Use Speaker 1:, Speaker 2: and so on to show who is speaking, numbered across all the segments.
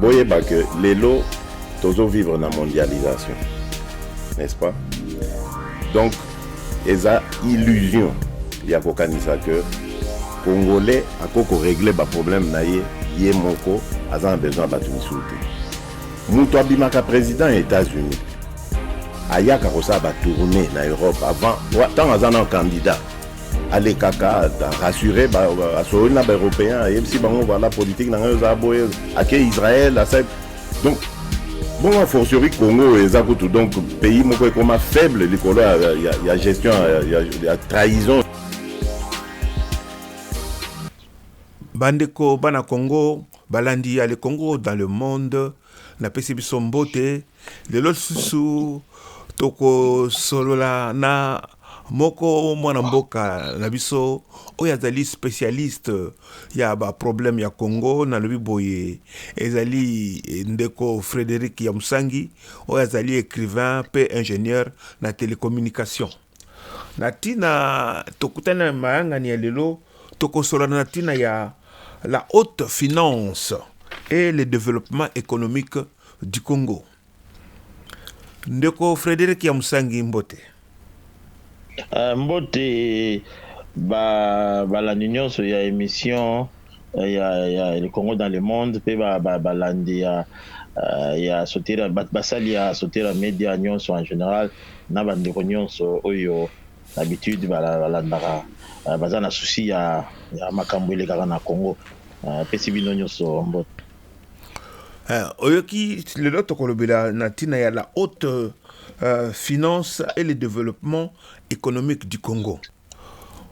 Speaker 1: boyeba que lelo tozo vivre na mondialisation n'est-ce pas donc eza illusion ya kokanisa que congolais akoki koregle baproblème na ye ye moko aza na besoin ya bato mosusu te moto abimaka président ya états-unis ayaka kosala batourne na europe avant ntango aza na candidat alekaka rassure asololi na baeuropéen ayebisi bango voilà politique na ngai oza boye ake israel asali donc bongo fortiori congo eza kutu donc pays moko ekoma faible likolo ya, ya, ya gestion ya, ya, ya trahison
Speaker 2: bandeko bana congo balandi ya le congo dans le monde napesi biso mbote Lelo lisusu tokosolola na moko mwana mboka na biso oyo azali specialiste ya ba problème ya Congo nalobi boye ezali ndeko Frederic ya Musangi oyo azali ecrivain pe ingenieur na telecommunication. Na tina tokutani na mayangani ya lelo tokosolola na tina ya la haute finance et le developpement economique du Congo. Ndeko Frederic ya Musangi mbote. Uh, mbote
Speaker 3: ba balandi nyonso ya emission eh, ya, ya le Congo dans le monde pe ba, ba balandi ya uh, ya sotera basali ya sotera media nyonso en général na bandeko nyonso oyo habitude balandaka uh, baza na souci ya, ya makambo elekaka na Congo uh, pesi bino nyonso mbote. Eh, oyoki
Speaker 2: lelo tokolobela na ntina ya la haute euh, finance et le développement économique du Congo.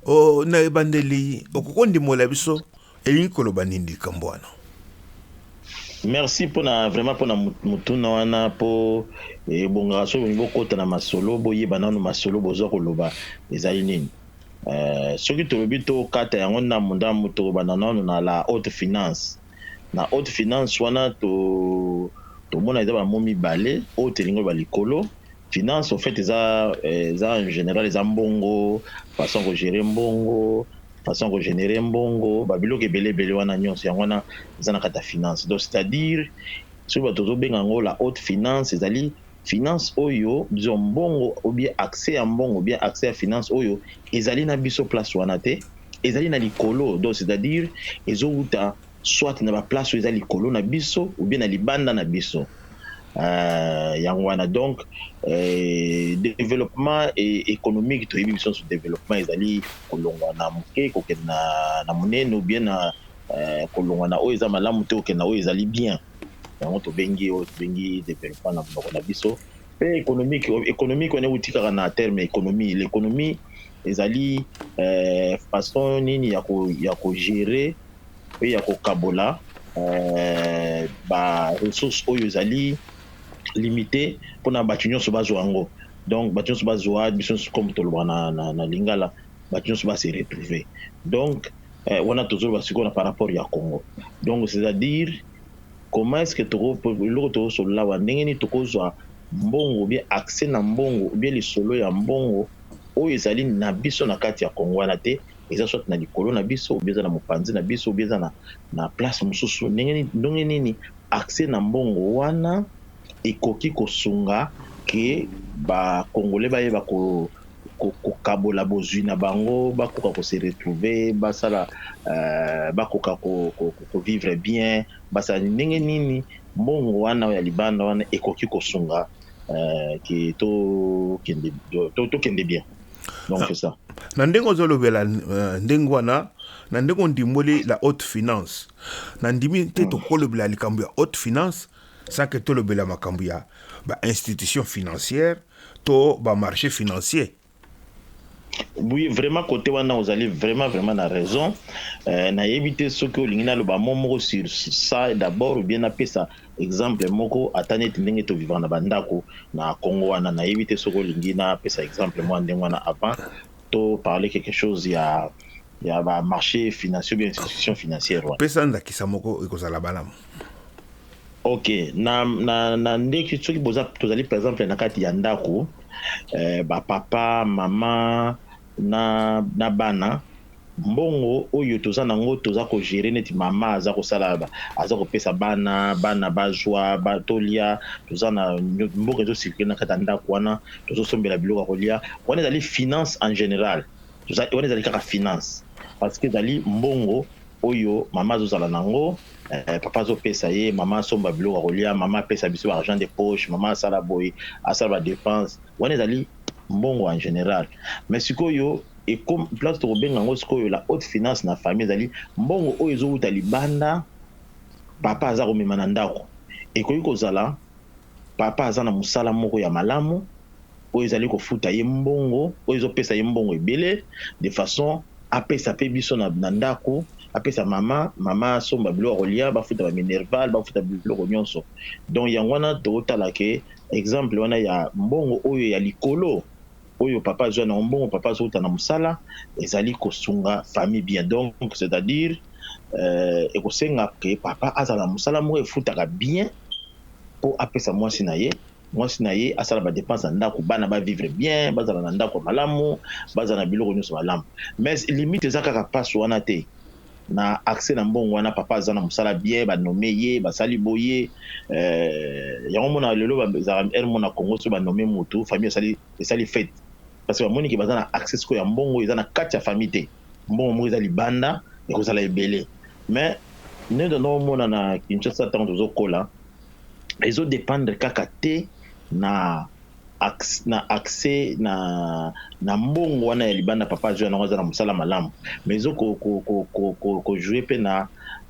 Speaker 2: Oh, na ebandeli okoki kondimbola biso elingi koloba nini likambo wana?
Speaker 3: merci mpona vraiment mpona motuna wana mpo ebongaka soki bolingi bokota na masolo boyeba nano masolo boza koloba ezali nini euh, soki tolobi tokata yango ndambo ndambo tokobanda nano na la haute finance na haute finance wana to tomona eza ba mots mibale haute elingi ba likolo finance au fait eza eza en general eza mbongo façon ko gérer mbongo façon ko générer mbongo ba biloko ebele ebele wana nyonso yango wana eza na kati ya finance donc c'est à dire soki bato tozobenga yango la haute finance ezali Finance oyo bzwa mbongo ou bien accès ya mbongo ou bien accès ya finance oyo ezali na biso place wana te, ezali na likolo donc c'est à dire ezo wuta soit na ba place oyo eza likolo na biso ou bien na libanda na biso euh yango wana donc euh developpement economique toyebi biso nionso developpement ezali kolongwa na muke kokende na munene ou bien na euh kolongwa na oyo eza malamu te kokende na oyo ezali bien. yango tobengi oyo tobengi developpement na monoko na biso mpe économique économique wana euti kaka na terme économie l'économie ezali euh, façon nini ya ko ya ko gérer mpe ya kokabola euh, ba ressources oyo ezali limité mpona bato nyonso bazwa yango donc bato nyonso bazwa biso nyonso comme tolobaka na, na, na lingala bato nyonso base retrouver donc Eh, wana tozoloba sikoyo na par rapport ya Congo. Donc c'est à dire comment est-ce que toko eloko toko solola wa ndenge nini tokozwa mbongo bien accès na mbongo bien lisolo ya mbongo oyo ezali na biso na kati ya Congo wana te eza soit na likolo na biso obieza na mopanzi na biso obieza na, na place mosusu ndenge nini accès na mbongo wana ekoki kosunga que ba congolais bayeba kokabola bozwi na bango bakoka ko se retrouver basala bakoka ko vivre bien basala nini ndenge nini mbongo wana oyo ya libanda wana ekoki kosunga que tokende bien donc c'est ça. Na ndenge ozolobela
Speaker 2: ndenge wana na ndenge ondimboli la haute finance nandimi te tokolobela likambo ya haute finance Sans que tolobela makambo ya ba institutions financières to ba marches financiers.
Speaker 3: Oui vraiment cote wana ozali vraiment vraiment na raison euh, nayebi te soki olingi naloba mo moko sur ça d'abord ou bien napesa exemple moko ata neti ndenge tovivaka na bandako na Congo wana nayebi te soki olingi napesa exemple mwa ndenge wana avant to parler quelque chose ya ya ba marché financier bien institution financière wana pesa ndakisa moko
Speaker 2: ekozala balamu
Speaker 3: Ok na na na ndeki soki boza tozali par exemple na kati ya ndako eh, ba papa mama na na bana mbongo oyo toza nango toza ko gérer neti mama aza kosala aza kopesa bana bana bazwa ba tolia toza na mboka ezo circuler na kati ya ndako wana tozo sombela biloko ya kolia wana ezali finance en général toza wana ezali kaka finance parce que ezali mbongo oyo mama azozala nango eh, papa azopesa ye mama asomba biloko ya kolia mama apesa biso ba argent de poche mama asala boye asala ba dépense wana ezali mbongo en général mais sikoyo place tokobenga yango sikoyo la haute finance na famille ezali mbongo oyo ezowuta libanda papa aza komema na ndako ekoki kozala Papa aza na mosala moko ya malamu oyo ezali kofuta ye mbongo oyo ezopesa ye mbongo ebele de façon apesa pe biso na, na ndako apesa mama mama asomba biloko ya kolia bafuta ba minerval bafuta biloko nyonso donc yango wana tokotala ke exemple wana ya mbongo oyo ya likolo oyo papa azua nango mbongo papa azo wuta na musala ezali kosunga famille bien donc c'est à dire ekosenga que papa azala na musala moko efutaka bien po apesa muasi na ye muasi na ye asala ba depense ya ndaku bana ba vivre bien bazala na ndaku ya malamu bazala na biloko nionso malamu mais limite eza kaka pasi wana te. na accès na mbongo wana papa aza na musala bien ba nomme ye basali boye euh, yango mona lelo bazaka heure mona Congo so ba nomme mutu famille esali esali fete parce que bamoni ke baza na accès siko ya mbongo eza na kati ya famille te mbongo moko eza libanda ekozala ebele mais nde toza komona na Kinshasa ntango tozokola ezo dependre kaka te na na accès na na mbongo wana ya libanda papa azwi yango aza na mosala malamu mais ezo kojouer mpe na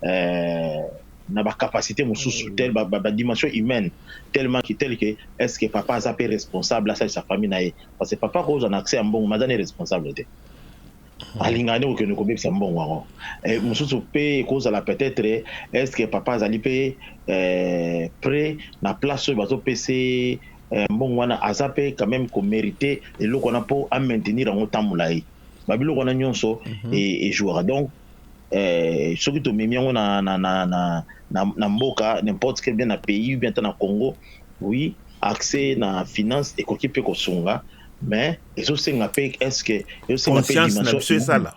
Speaker 3: euh, na bacapacité mosusu tel badimension humaine tellement que tel que est ce que papa aza mpe responsable asalisa famille na ye parce que papa akozwa na accès ya mbongo mais aza ne responsable te Hmm. alinga nde kokende kobebisa mbongo yango eh, mosusu mpe ekozala peut-être estce papa azali mpe eh, pre na place oyo bazopesa eh, mbongo wana aza mpe quand même komerite eloko wana mpo amaintenir yango ntan molai babiloko wana nyonso mhm. e, ejouaka donc eh, soki tomemi yango na, na, na, na, na, na mboka n'importe quel bien na pays bien ata na congo oui accès na finance ekoki mpe kosunga mais ezosenga mpe eske ezosenga mpe conscience na biso esala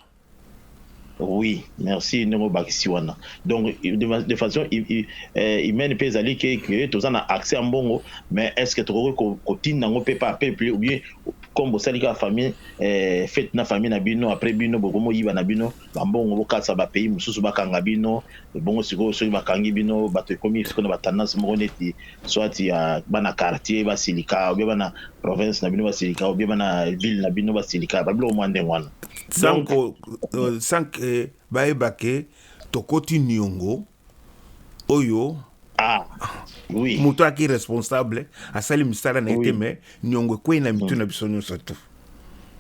Speaker 2: oui
Speaker 3: merci ndenge obakisi wana donc de façon eh, humaine mpe ezali ke ke toza na accès ya mbongo mais est ce que tokoki kotinda yango mpe par peuple ou bien comme bosali kaka famille eh, fete na famille na bino après bino bokomoyiba na bino na mbongo bokatisa ba pays mosusu bakanga bino ebongo sikoyo soki bakangi bino bato ekomi sikoyo na ba tendance moko neti soit ya bana quartier basilika obie bana province na bino basilika obie bana ville na bino basilika babiloko mwa ndenge wana sanko euh, sanke
Speaker 2: euh, bayeba ke tokoti niongo oyo ah,
Speaker 3: oui. moto aki
Speaker 2: responsable asali misala na ye te oui. mais niongo ekwei na mitu mm. na biso nyonso tu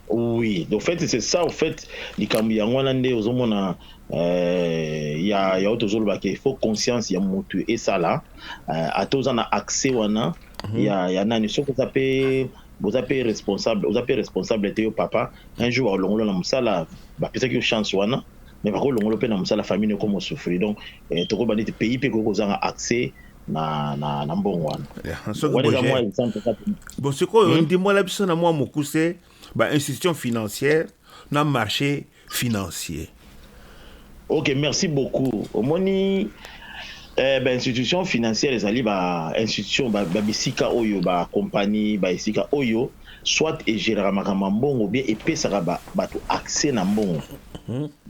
Speaker 2: oui
Speaker 3: au fait c'est ça au fait likambo yango wana nde ozomona euh, ya ya oyo tozoloba ke faut conscience ya motu esala euh, ata oza na accès wana mm -hmm. ya, ya nani soki oza mpe boza mpe responsable oza mpe responsable te yo papa un jour olongola na mosala bapesaki yo chance wana mais bako longola pe na musala famille no komo souffrir donc eh, toko bandi te pays pe ko kozanga accès na na na mbongo wana wana eza mwa exemple kaka
Speaker 2: bon sikoyo hmm? ndimbola biso na mwa mokuse ba institution financière na marché financier
Speaker 3: ok merci beaucoup omoni eh, ba institution financière ezali ba institution ba, ba bisika oyo ba compagnie ba esika oyo Soit e geraka makambo ya mbongo ou bien epesaka batu accès na mbongo.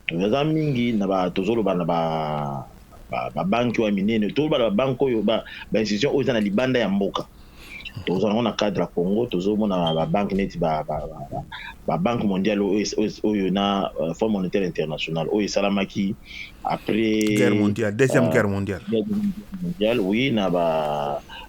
Speaker 3: Eza mingi na ba tozo loba na ba banque oyo ya minene, tozo loba na ba banque oyo ba institution oyo eza na libanda ya mboka. Tokozala nango na cadre ya Congo, tozo mona ba banque neti ba banque mondiale oyo na Fond monetaire international oyo esalamaki après guerre mondiale,
Speaker 2: deuxième guerre mondiale. Guerre mondiale
Speaker 3: oui na ba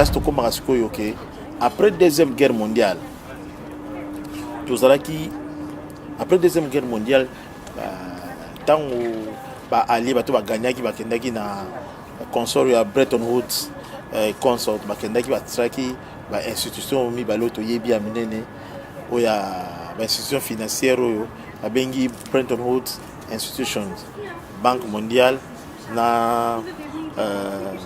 Speaker 4: place tokomaka sikoyo ke après deuxième guerre mondiale tozalaki après deuxième guerre mondiale ntango euh, baallie bato bagagnaki bakendaki na consort ya bretton woods euh, consort bakendaki basalaki bainstitution mibale oyo toyebi ya minene oyo ya bainstitution financière oyo babengi bretton woods institutions banque mondiale na euh,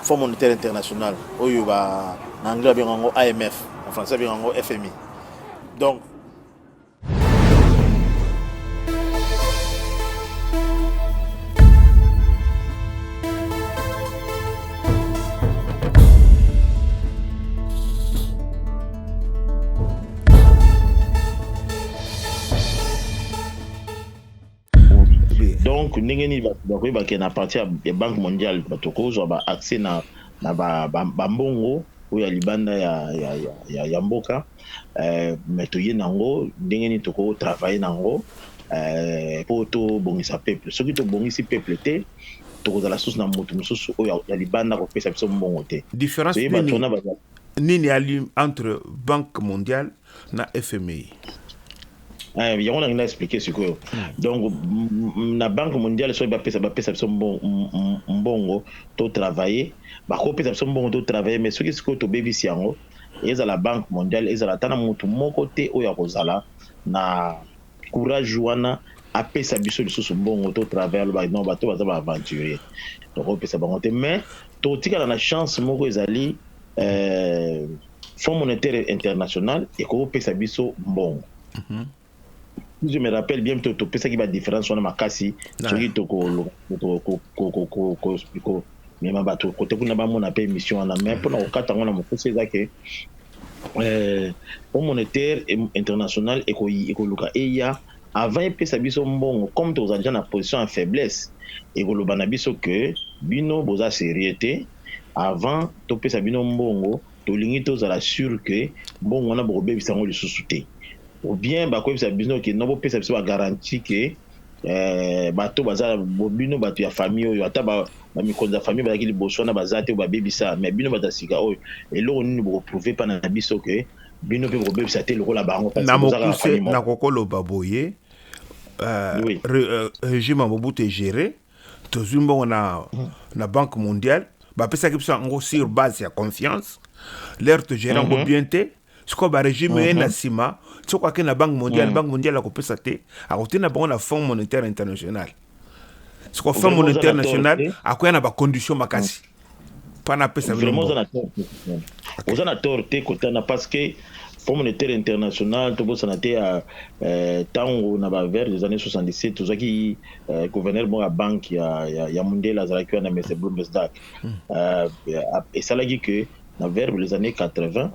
Speaker 4: Fonds monétaire international oyo ba na anglais babenga yango IMF en français babenga yango FMI donc
Speaker 3: donc ndenge nini bato bakoki bakee na parti ya banque mondiale bato kozwa ba accès na, na bambongo ba, ba oyo ya libanda ya, ya, ya, ya, ya mboka eh, me toye na yango ndenge nini tokotravaille na yango eh, mpo tobongisa peuple soki tobongisi peuple te tokozala susu na moto mosusu oyo ya libanda kopesa biso mbongo te difference
Speaker 2: nini, nini entre banque mondiale na fmi.
Speaker 3: Eh, yango nangi na expliquer sikoyo donc na banque mondiale soki bapesa bapesa biso mbongo to travailler bakopesa biso mbongo to travailler mais soki sikoyo tobebisi yango ezala banque mondiale ezala ata na motu moko te oyo akozala na courage wana apesa biso lisusu mbongo to travaille aloba non bato baza ba aventurier tokopesa bango te mais tokotikala na chance moko ezali euh, Fonds monétaire international ekoki kopesa biso mbongo mhm. je me rappelle bien to topesaki badifference wana makasi soki tokomema bato kote kuna bamona mpe émission wana mais mpona kokata yango na mokuse eza ke fonds eh, monétaire international ekoluka eya avant epesa biso mbongo comme tozali na position ya faiblesse ekoloba na biso ke bino boza serieux te avant topesa bino mbongo tolingi tozala sur que mbongo wana bokobebisa yango lisusu te ou bien bakoyebisa bino ke no bopesa biso bagaranti ke eh, bato baza bino bato ya famille oyo ata bamikonzi ya famille bazalaki liboso wana baza te babebisa mais bino bato ya sika oyo eloko nini bokoprouve mpa na biso ke bino mpe bokobebisa te lokola bango na mokuse
Speaker 2: nakokoloba boye uh, oui. re, uh, regime ya mobutu egere Tozui mbongo na, na Banque mondiale, bapesaki biso yango sur base ya confiance, lere togere yango mhm. bien te sikoyo baregime eye na mhm. nsima soko ake na banque mondiale mhm. banque mondiale akopesa te akotinda bango na fonds monétaire international sikoyo fonds monétaire national akoya na bacondition makasi Vraiment oza na tort
Speaker 3: oza na tort te kotana parce que Fonds monétaire international tobosana te ya euh, tango na ba vers des années 77 tozwaki euh, gouverneur moko ya banque ya, ya, ya mundela azalaki wana mese bloomberg hmm. euh, esalaki que na vers les années 80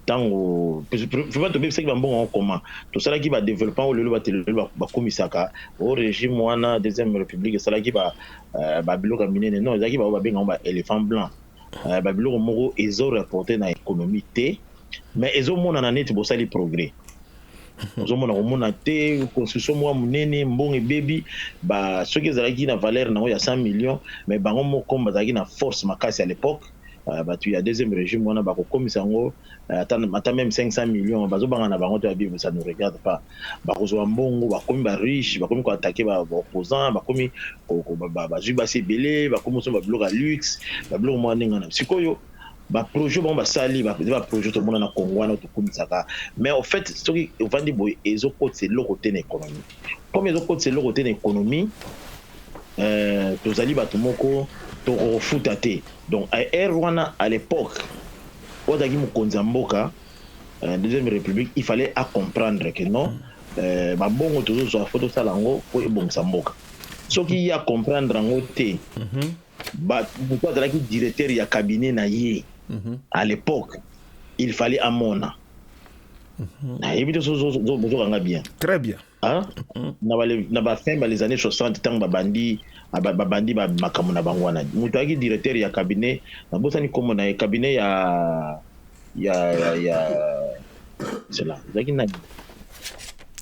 Speaker 3: tango vraiment tobebisaki bambongo yango koma tosalaki ba developpement oyo lelo bato lelo bakumisaka o regime wana deuxième république esalaki ba euh, babiloko ya minene non ezalaki baoyo babenga yango ba éléphant blanc euh, babiloko moko ezo rapporte na économie te mais ezomonana neti bosali progrès ozomona komona te construction moko monene mbongo ebebi soki ezalaki na valeur na yango ya 100 millions mais bango moko bazalaki na force makasi à l'époque batu ya deuxième regime wana bako komisa yango ata meme 500 millions bazo banga na bango te ba bible ça nous regarde pas bako zua mbongo ba komi ba riche ba komi ko attaquer ba opposants ba komi ba zui basi ebele ba komi so ba biloko ya luxe ba biloko mwa ndenge wana sikoyo ba projet bango basali ba ba projet tomona na Congo wana to komisaka mais au fait soki ovandi boye ezo kotisa eloko te na économie comme ezo kotisa eloko te na economie euh, tozali bato moko tokofuta te donc air wana à l'époque oyo azalaki mokonzi ya mboka euh, deuxième république il fallait a comprendre que non euh, babongo tozozwa fo tosala yango mpo ebongisa mboka soki ye acomprendre yango te mhm. moto azalaki directeur ya cabinet na ye mhm. à l'époque il fallait amona Mhm. nayebi te bozoka nga bien très bien
Speaker 2: mhm.
Speaker 3: na bafin ba les années 60 ntango babandi ah, babandi makambo na bango wana moto ayaki directeur ya cabinet nabosani nkombo na ye cabinet ya ya ya cela ezalaki nani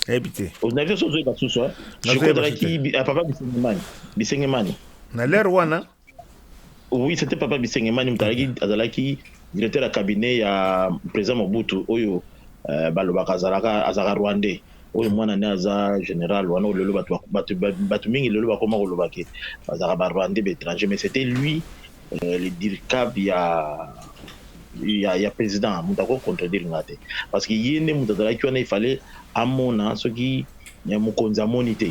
Speaker 3: nayebi
Speaker 2: te nayebi te sozoyeba
Speaker 3: susu papa bisengemani bisengemani na lere
Speaker 2: wana Oui,
Speaker 3: c'était Papa Bisengemani Mutalaki, azalaki directeur ya cabinet ya président Mobutu oyo euh, balobaka azalaka azalaka rwandais oyo mwana ne aza général wana lelo bato mingi lelo bakoma koloba ke bazalaka ba rwandais ba étranger mais c'était lui euh, le dircab ya ya, ya président moto akoki contredire nga te parce que ye nde moto azalaki wana ifale amona soki mokonzi amoni te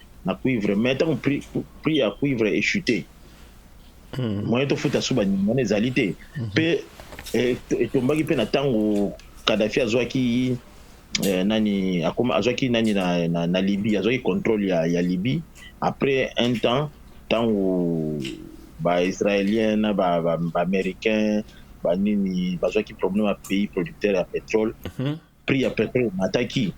Speaker 3: na cuivre mais ntango prix, prix ya cuivre echute hmm. moyen tofuta suba nyama wana ezali te mpe hmm. eh, etombaki mpe na ntango kadafi azwaki eh, nani akoma azwaki nani na, na, na libye azwaki contrôle ya, ya libye après un temps ntango baisraélien na baaméricain ba, ba banini bazwaki problème ya pays producteur ya pétrole mm -hmm. prix ya petrole emataki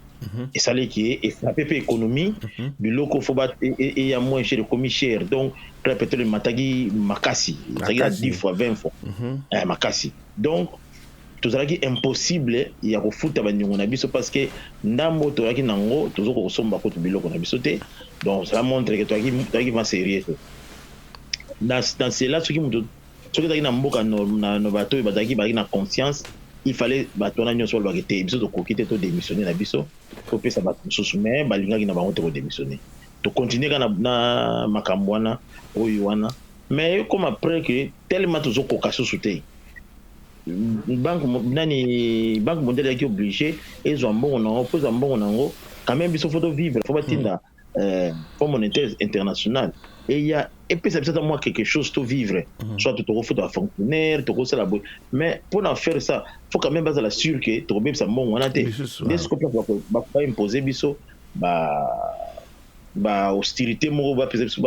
Speaker 3: esali eke efrape mpe économie mhm. biloko fo eya moins cher ekomi cher donc prix ya petrole emataki makasi ezalaki na 10 fois 20 fois mhm. eh, makasi donc tozalaki impossible ya kofuta bandingo na biso parce que ndambo toyaki na yango tozokoka kosomba kutu biloko na biso te donc cela montre ke toyaki va sérieux te na cela soki moto Soki ezalaki na mboka na bato oyo bazalaki bazalaki na conscience il fallait bato wana nyonso balobaki te biso tokoki te to démissionner na biso topesa bato mosusu mais balingaki na bango te ko démissionner tokontinue kaka na makambo wana oyo wana mais ekoma après que tellement tozokoka susu te banque nani banque mondiale yaki oblige ezwa mbongo na yango mpo ezwa mbongo na yango quand même biso fo tovivre fo batinda mm. euh, fonds monétaire international eya epesa biso ata mwa quelque chose to vivre mm -hmm. soit tokofuta bafonctionnaire tokosala boye mais mpo na faire ça faut quand même bazala sur ke tokobebisa mbongo wana te nde siko mpe baimpose biso ba bahostilité moko bapesa biso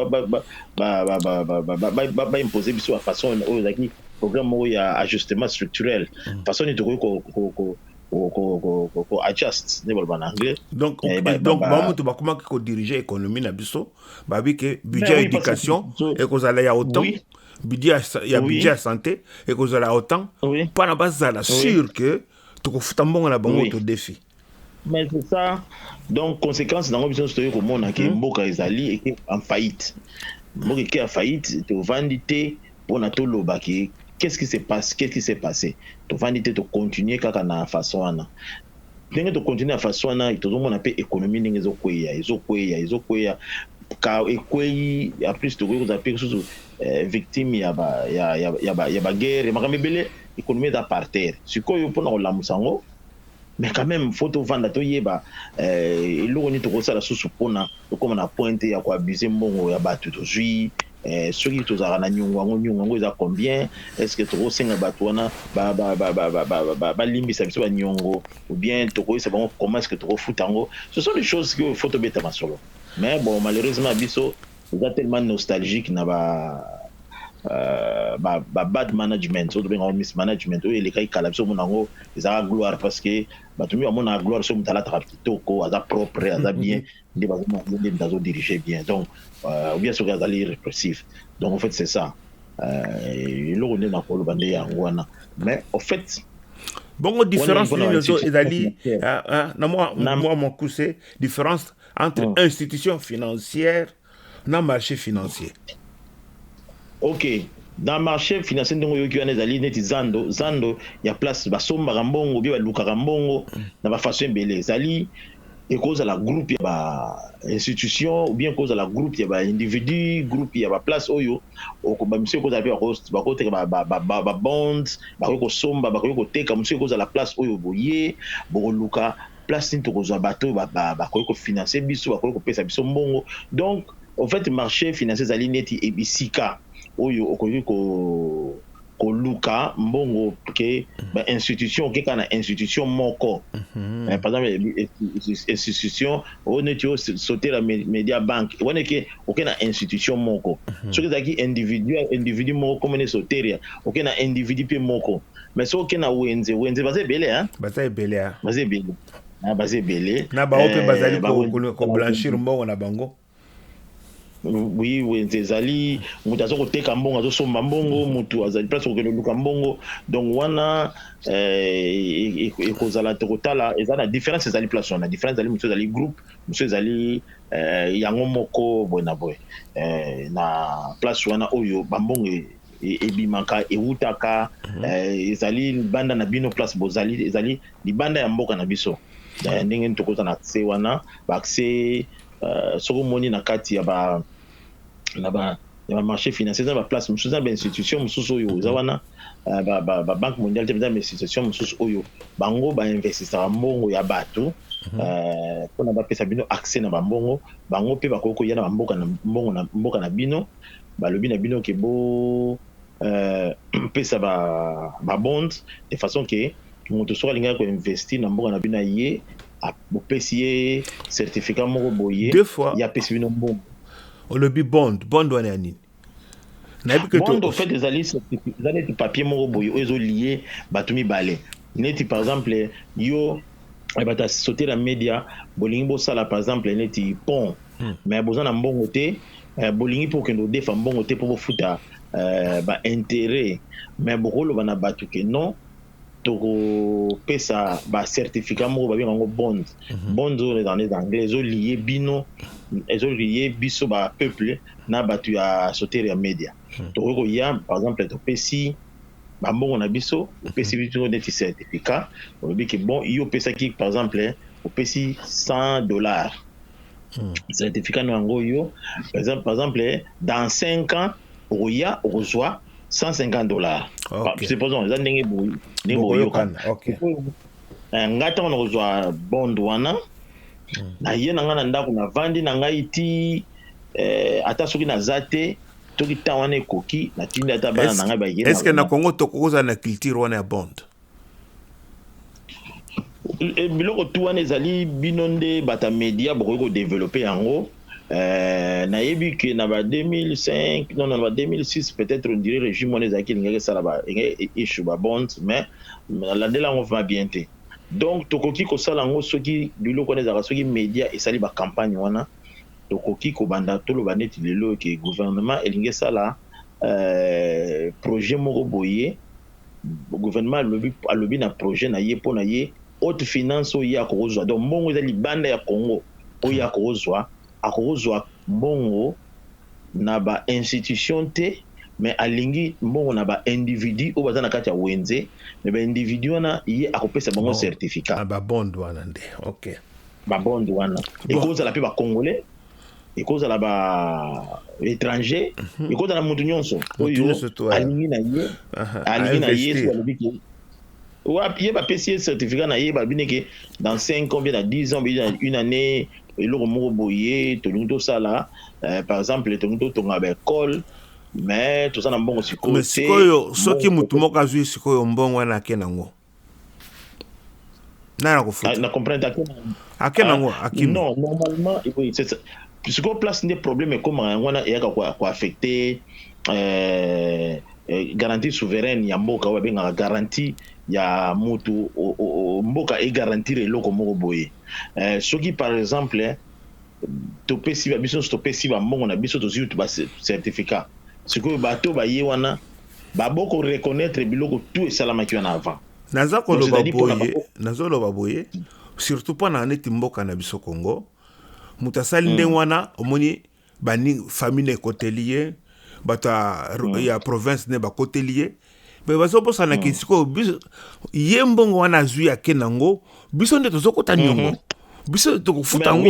Speaker 3: baimpose biso bafaçon oyo ezalaki programme moko ya ajustement structurel façon nini tokoki ko adjust nde baloba na anglais donc eh, donc ba
Speaker 2: mutu bakomaki ko diriger économie na biso babi ke budget éducation ekozala ya autant budget ya budget ya santé ekozala ya autant mpona bazala sûr que tokofuta mbongo na bango to défi mais c'est ça
Speaker 3: donc conséquence nango biso nyonso toyei komona ke hmm. mboka ezali eke en faillite mboka eke ya faillite tovandi te pona toloba ke qu'est ce qui se passe qu'est ce qui s'est passe tovandi te to continuer kaka na façon wana ndenge to continuer na façon wana tozomona mpe economie ndenge ezokweya ezokweya ezokweya ka ekweyi en plus tokoki kozala mpe lisusu eh, victime ya ba ya ya ya ba, ya ba guerre makambo ebele economie eza par terre sikoyo mpona kolamusa yango Mais quand meme faut tovanda toyeba eh, eloko nini tokosala susu mpona tokoma na pointe ya koabuse mbongo ya bato tozwi eh, soki tozalaka na nyongo yango nyongo yango eza combien est ce que tokosenga bato wana balimbisa biso banyongo ou bien tokoyisa bango comment est ce que tokofuta yango ce sont des choses sikoyo faut tobeta masolo mais bon malheureusement biso Oza tellement nostalgique na ba euh, ba bad management oyo tobenga miss management oyo elekaki kala biso omona yango ezalaka gloire parce que bato mingi bamonaka gloire soki moto alataka kitoko aza propre aza bien nde bazomona ye nde moto azodirige bien donc euh, bien soki azali répressif donc en fait c'est ça euh, eloko nde nakoloba nde yango wana mais au fait bongo
Speaker 2: différence nini ozo ezali na mwa mokuse différence entre mm. institution financière na marché financier
Speaker 3: ok dans marché financier ndenge oyoki wana ezali neti zando zando ya place basombaka mbongo bie balukaka mbongo mm. na bafaçon ebele ezali ekozala groupe ya ba institution ou bien ekozala groupe ya ba individu groupe ya ba place oyo bamisu ekozala mpe bakoteka babonds bakoki kosomba bakoki koteka mosusu ekozala place oyo boye bokoluka place nini tokozwa bato oyo bakoki kofinanse biso, bakoki kopesa biso mbongo. Donc en fait marche financier ezali neti ebisika oyo okoki ko koluka mbongo ke mhm. ba institution okeka na institution moko mhm. eh, par exemple eh, eh, institution oyo neti osotela media bank wana eke oke na institution moko mhm. soki ezalaki individuel individu moko komona esoteria oke na individu mpe moko mais soki oke na wenze wenze baza ebele hein baza ebele hein
Speaker 2: baza ebele na baza ebele na bango mpe bazali eh, koblanchir mbongo na bango
Speaker 3: oui wenze ezali moto aza koteka mbongo azosomba mbongo moto azali place kokende luka mbongo donc wana eh, e, e, ekozala tokotala eza na différence ezali place wana différence ezali mosusu ezali groupe mosusu ezali eh, yango moko boye na boye na place wana oyo bambongo ebimaka ewutaka mhm. eh, ezali libanda na bino place bozali ezali libanda ya mboka na biso eh, ndenge tokoza na accès wana baaccès eh, soki omoni na kati ya ba na ba ya ba marché financier eza na baplace mosusu eza na bainstitution mosusu oyo eza wana babanque mondiale te eza na bainstitution mosusu oyo bango bainvestisaka mbongo ya bato mhm. mpona bapesa bino accès na bambongo bango mpe bakoki koya na bamboka na mbongo na mboka na bino balobi na bino ke bo euh, pesa ba, ba bond de façon ke moto soki alingaki koinvesti na mboka na bino aye bopesi ye certificat moko boye ye apesi bino mbongo olobi
Speaker 2: bond bond wana ya nini nayebi
Speaker 3: ke bond ofait ezali eza neti papier moko boye oyo ezolie bato mibale neti par exemple yo eh, bato ya société na média bolingi bosala par exemple neti pont hmm. mais boza na mbongo te Eh, bolingi mpo okende kodefa mbongo te mpo bofuta eh, ba interet me bokoloba na bato ke non tokopesa bacertificat moko babenga yango bond mhm. bond oyo eza nde anglais ezoliye bino ezoliye biso bapeuple na bato ya sautere ya media mhm. tokoki koya par exemple topesi bambongo na biso mhm. opesi biso neti certificat olobi ke bon yo opesaki par exemple opesi 100 dollars Hmm. certificat na yango yo par exemple, par exemple dans 5 ans okoya okozwa 150 dollars okay. supposons eza ndenge boyi ndenge boyokana okay. Eh, ngai ntango nakozwa bond wana hmm. naye na ngai na ndako navandi na ngai ti eh, ata soki naza te toki ntango wana ekoki natindi ata bana na ngai bayeeske na congo tokokozala
Speaker 2: na culture wana ya bond
Speaker 3: Eh, biloko tu wana ezali bino nde bata media bokoki ko develope yango eh, nayebi ke na ba 2005 non na ba 2006 peut-être on dirait regime wana ezalaki elingaki esala ba e, issue ba bond mais nalandela yango vraiment bien te donc tokoki kosala yango soki biloko wana ezalaka soki media esali ba campagne wana tokoki kobanda toloba neti lelo ke gouvernement elingi esala eh, projet moko boye Gouvernement alobi alobi na projet na ye pona ye haute finance oyo ye akokozwa donc mbongo eza libanda ya Congo oyo ye akokozwa akokozwa mbongo na ba institutions te mais alingi mbongo na ba individus oyo baza na kati ya wenze mais ba individus wana ye akopesa bango certificat. Ah ba bond wana nde
Speaker 2: ok. Ba bond wana
Speaker 3: ekozala pe ba congolais. ekozala ba étranger mhm. ekozala mutu nyonso oyo alingi na ye alingi na ye soki alobi ke wapi ye bapesi ye certificat na ye balobi ndeke dans 5 ans bien na 10 ans bien na une année eloko moko boye tolingi tosala euh, par exemple tolingi totonga baekole mais toza na mbongo sikoyo sikoyo soki motu
Speaker 2: moko azwi sikoyo mbongo wana ake nango nani akofuta ah, na comprendre akenda
Speaker 3: akenda ah, ngo
Speaker 2: akimi non normalement oui
Speaker 3: c'est ça sikoyo place nde problème ekomaka yango wana eyaka koaffecte euh, euh, garantie souveraine ya mboka oyo abengaka garantie ya mutu mboka egarantir eloko moko boye euh, soki par exemple topesi biso nyonso topesi bambongo na biso tozwi certificat sikoyo bato baye wana Ba boko reconnaitre biloko tout esalamaki wana avant. Naza koloba boye, nazo
Speaker 2: loba boye, surtout pas na neti mboka na biso Congo. Moto asali mm. ndenge wana, omoni ba famille ekoteli ye, bato mm. ya province ne bakoteli ye me bazobosana mm. ke sikoyo ye mbongo wana azwi ake nango biso nde tozokota niongo mm -hmm. biso tokofuta yango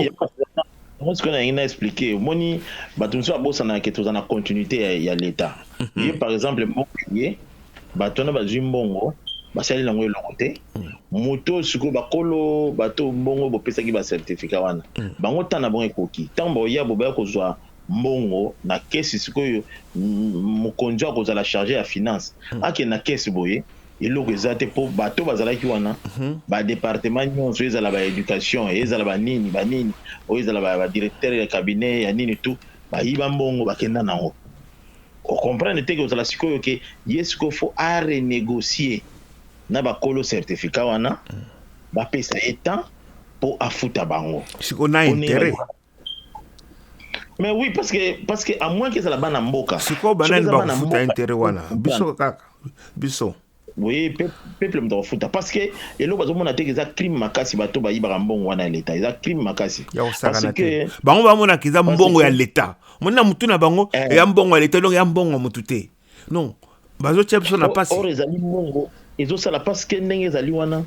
Speaker 2: yango sikoyo
Speaker 3: nalingi na explike omoni bato mosusu babosanaka ke toza na continuité ya, ya leta mm -hmm. ye par exemple mboka ye bato wana bazwi mbongo basali nango eloko te mm. moto sikoyo bakolo bato mbongo bopesaki bacertificat wana mm. bango ntan na bango ekoki ntango bakoya bobaya kozwa mbongo na kesi sikoyo mokonzi akozala charge ya finance mm. akende na kesi boye eloko eza te po bato bazalaki wana ba departement nionso ezala ba education ezala ba nini ba nini oyo ezala ba directeur ya cabinet ya nini tout bayiba mbongo bakenda nango o comprendre te kozala sikoyo ke ye sikoyo faut a renegocie na ba kolo certificat wana bapesa ye temps po afuta bango
Speaker 2: sikoyo na
Speaker 3: interet Mais oui, parce que, parce que à moins qu'ils aient bana mboka. Siko banani ba kufuta
Speaker 2: intérêt wana. Biso kaka. Biso. Oui,
Speaker 3: peuple mto kufuta parce que eloko bazo mona te eza crime makasi bato ba yibaka mbongo wana ya l'etat. Eza crime makasi. Ya osakana te.
Speaker 2: Bango ba mona kiza mbongo ya l'etat. Mona mutu na bango eh. ya mbongo ya l'etat donc ya mbongo mutu te. non bazotia biso na pasi or ezali mbongo
Speaker 3: ezosala parce que ndenge ezali wana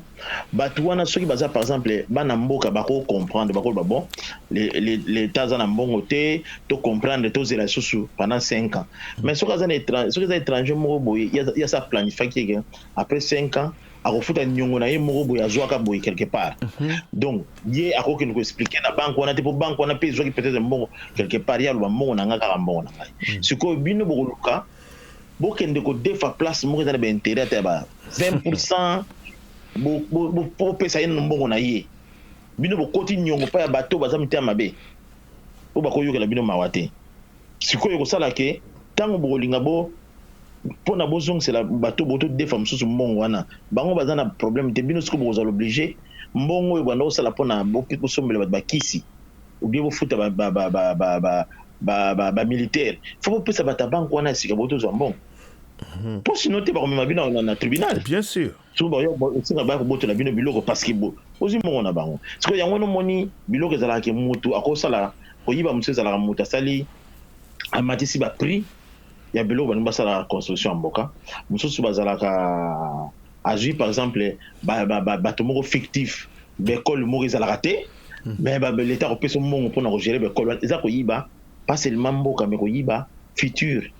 Speaker 3: bato wana soki baza par exemple bana mboka bako comprendre bakoloba bon leta aza na mbongo te to comprendre tozela lisusu pendant 5 ans mais soki aza soki eza étranger moko boye ya sa planifiaki ke après 5 ans akofuta niongo na ye moko boye azwaka boye quelque part mhm. donc ye akoki kende ko expliquer na banque wana te mpo banque wana mpe ezwaki peut-être mbongo quelque part ye aloba mbongo na ngai kaka mbongo na ngai mm. sikoyo bino bokoluka bokende kodefa place moko eza na baintérêt ata ya ba 20 pourcent bopesa ye nano mbongo na ye bino bokoti niongo mpa ya bato baza mitema mabe po bakoyokela bino mawa te. Sikoyo ekosala ke tango bokolinga bo pona bozongisela bato botodefa mosusu mbongo wana bango baza na probleme te bino siko bokozala oblige mbongo oyo banda kosala pona bosombela bato bakisi obie bofuta ba, ba, ba, ba, ba, ba, ba, ba, ba militaire fo bopesa bato ya banke wana ya sika botozwa mbongo mpo mhm. sino te bakomema bino na tribunal bien sûr soki
Speaker 2: bayo esika baya
Speaker 3: kobotela bino biloko parceke ozwi mbongo na bango sikoyo yango wana omoni biloko ezalaka ke mutu akosala koyiba mosusu ezalaka mutu asali amatisi baprix ya biloko balingi basalaka construction ya mboka mosusu bazalaka azwi par exemple bato moko fictif baekole moko ezalaka te hmm. mais leta akopesa mbongo mpona kogere baekole wana eza koyiba pas seulement mboka me koyiba future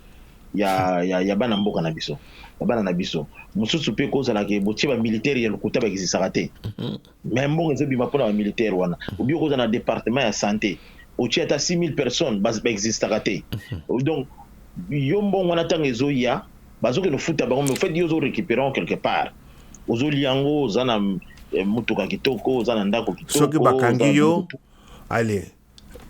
Speaker 3: ya, ya, ya bana mboka na biso ya bana na biso mosusu mpe kozala ke botie bamilitaire ya lokuta bakizisaka te mhm. me mbongo ezobima mpona bamilitaire wana mhm. obi okozala na departement ya sante otie ata 6000 personnes baexistaka te mhm. donc yo mbongo wana ntango ezoya bazokende ofuta bango me ofait yo ozorecuperango quelque part ozoli yango oza na eh, motuka kitoko oza na ndako kitoko soki bakangi yo
Speaker 2: ale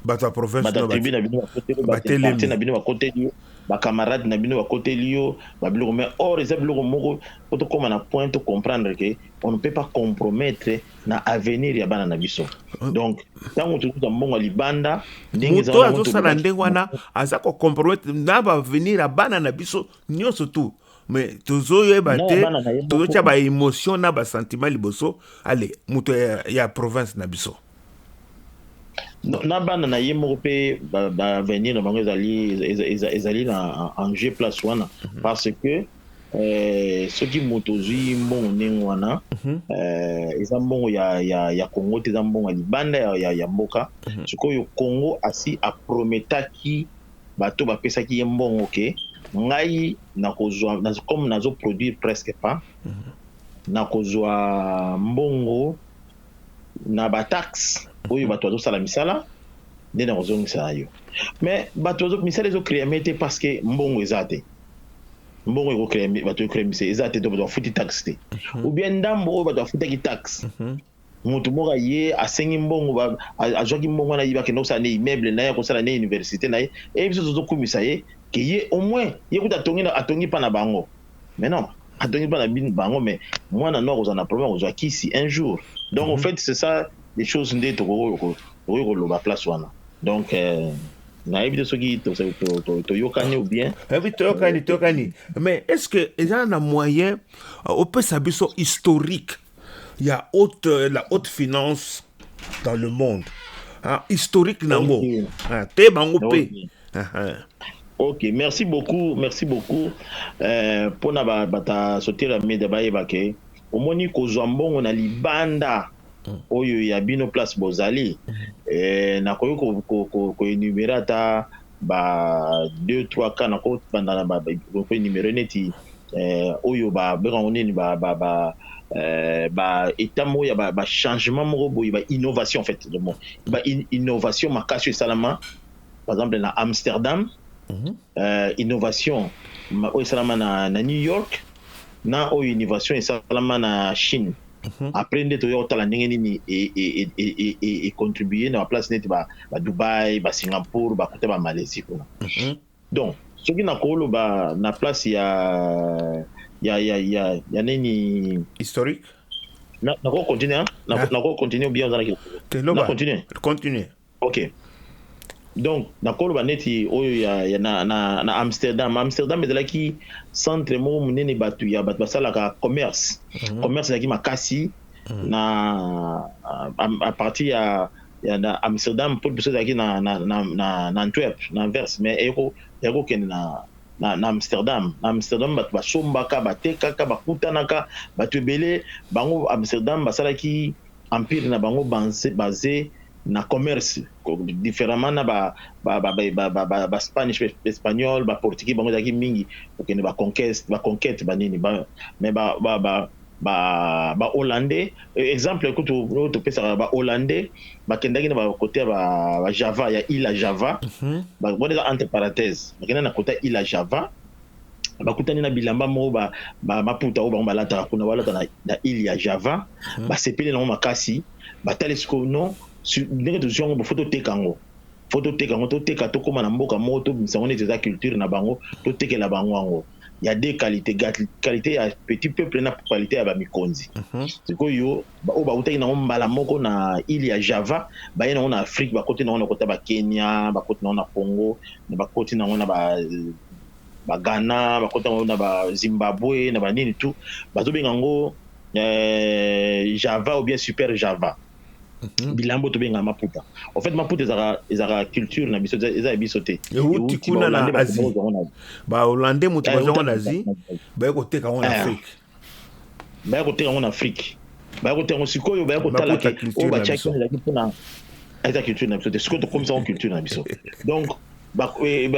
Speaker 2: bato ya province na tribu na bino
Speaker 3: bakoteli na bino bakoteli yo bacamarade na bino bakoteli yo babiloko mais or eza biloko moko po tokóma na point tocomprendre ke on ne peut pas compromettre na avenir ya bana na biso euh. donc ntango tozuza mbongo ya libanda moto azosala
Speaker 2: ndenge wana aza kocompromettre na baavenir ya bana na biso nyonso tout mais tozoyeba te tozotya baémotion na basentiment liboso ale moto ya, ya province na biso
Speaker 3: na bana na ye moko mpe baavenir na bango ezali, ezali na enjeu place wana mhm. parce que eh, soki moto ozwi mbongo ndenge wana mhm. eh, eza mbongo ya, ya, ya congo te eza mbongo ya libanda ya, ya, ya mboka mhm. sikoyo congo asi aprometaki bato bapesaki ye mbongo ke ngai nakozwa comme nazoproduire presque pas nakozwa mbongo na ba taxe oyo bato bazosala misala nde na kozongisa na yo mais bato misala ezo creame te parce que mbongo eza te mbongo ekocreame bato ecreame se eza te to bato bafuti taxe te mhm. ou bien ndambo oyo bato bafutaki taxe mhm. moto moko aye asengi mbongo azwaki mbongo wana yebaki na kosala na immeuble na ye akosala na université na ye eye biso tozokumisa ye ke ye au moins ye kuta atongi atongi mpa na bango mais non atongi bana bin bango mais mwana no akozala na problème akozwa kisi un jour donc mm -hmm. au mhm. fait c'est ça les choses nde tokoki koloba place wana donc euh, nayebi te soki toyokani ou bien ebi eh toyokani
Speaker 2: toyokani mais est ce que eza na moyen euh, opesa biso historique ya haute, euh, la haute finance dans le monde ah, historique nango okay. ah, te bango mpe okay. ah, ah.
Speaker 3: ok merci beaucoup merci beaucoup euh, mpona bata sauter ya media bayeba ke omoni kozwa mbongo na libanda mm. oyo ya bino place bozali mm. eh, nakoki koenumere ko, ko, ko ata ba deux trois cas nako banda na ba pe numero neti eh, oyo ba benga ngo nini ba ba ba eh, ba etat moko ya ba, ba changement moko boye ba innovation en fait le mot ba in, innovation makasi esalama par exemple na Amsterdam mm -hmm. euh, innovation oyo esalama na, na New York na oyo innovation esalama na Chine après nde toya kotala ndenge nini econtribue na baplace neti badubai basingapour bakuta bamalaisie kuna donc soki nakoloba na place ya ya ya ya ya nini historique
Speaker 2: nakoki
Speaker 3: continue nakoki continue bien ozalaki te
Speaker 2: loba continue
Speaker 3: continue Ok donc nakoloba neti oyo ya, ya na, na, na Amsterdam. Amsterdam ezalaki centre moko monene bato ya bato basalaka commerce mm -hmm. commerce ezalaki makasi mm -hmm. na a, a partir ya ya na Amsterdam mpo liboso ezalaki na, na, na, na, na Antwerp na Anvers mais eko ekokende na na, na Amsterdam. Na Amsterdam bato basombaka, batekaka, bakutanaka, bato ebele bango Amsterdam basalaki Empire na bango base na commerce, differemment na ba Spanish, ba Espagnols, ba Portugais bango ezalaki mingi kokende ba conquest, ba conquete, ba nini mais ba Hollandais exemple kutu oyo topesaka ba Hollandais bakendaki na ba cote ya ba Java ya Ile ya Java, wana eza entre parenthèses, bakendaki na cote ya Ile ya Java. bakutani na bilamba moko ba, ba maputa oyo bango balataka kuna balata na, na ile ya java hmm. basepeli nango makasi batali sikoyo non ndenge tozwi yango bofo toteka yango fo toteka yango toteka tokóma na mboka moko tobimisa yango neti eza culture na bango totekela bango yango ya de qualité qualité ya petit peuple na qualité ya bamikonzi hmm. sikoyo Baoyo bawutaki nango mbala moko na ile ya Java baye nango na Afrique, bakoti nango nakota ba Kenya, bakoti nango na Congo, bakoti nango na ba Ghana, bakoti nango na ba Zimbabwe, na ba nini tout, bazobenga yango Java ou bien Super Java. Mhm. bilambo tobenga maputa en fait maputa ezaka ezaka culture na biso eza ya biso te euti kuna na
Speaker 2: asie ba hollandais moto bazongo na asie baye koteka yango na afrique baya
Speaker 3: koteka yango na afrique baya koteka yango sikoyo baya kotala ke oyo batiaki wana ezalaki mpona eza culture na biso te sikoyo tokomisa yango culture na biso donc eh,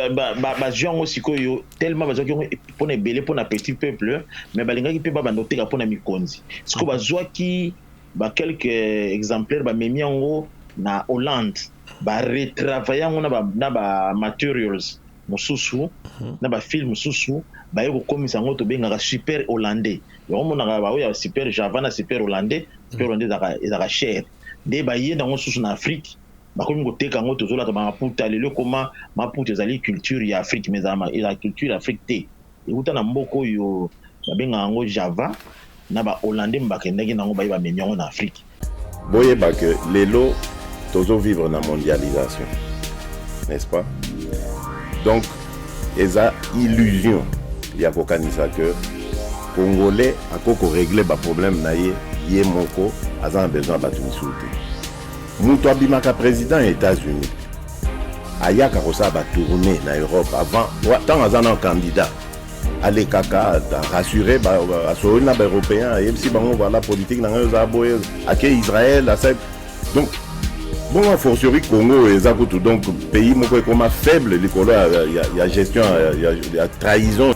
Speaker 3: bazwi yango sikoyo tellement bazwaki yango mpona ebele mpona petit peuple mais balingaki mpe babanda koteka mpona mikonzi sikoyo mm. bazwaki baquelque exemplaire bamemi yango na hollande baretravaille yango na bamaterials mususu na ba fille mususu baye kokomisa yango tobengaka super hollandais yango omonaka baoyo ya super java na super hollandais super hollandais ezalaka ezalaka cher nde baye nango susu na afrique bakomi koteka yango tozolata ba maputa lelo ekoma maputa ezali culture ya afrique mais ezala ezala culture ya afrique te Ewuta na mboka oyo babengaka yango Java, na ba Hollandais bakendaki na yango baye bamemi yango na Afrique. Boyeba que
Speaker 1: lelo tozo vivre na mondialisation n'est-ce pas? Donc eza illusion ya kokanisa que congolais akoki ko regler ba problèmes na ye ye moko aza na besoin ya batu misusu te. Mutu abimaka president ya Etats Unis ayaka kosala ba tournée na Europe avant ntango aza na candidat alekaka rassure asololi na baeuropéen ayebisi bango voilà politique na ngai oza boye ake Israël asali donc bongo fortiori Congo oyo eza kutu donc pays moko ekoma faible likolo ya, ya, ya gestion ya, ya, ya trahison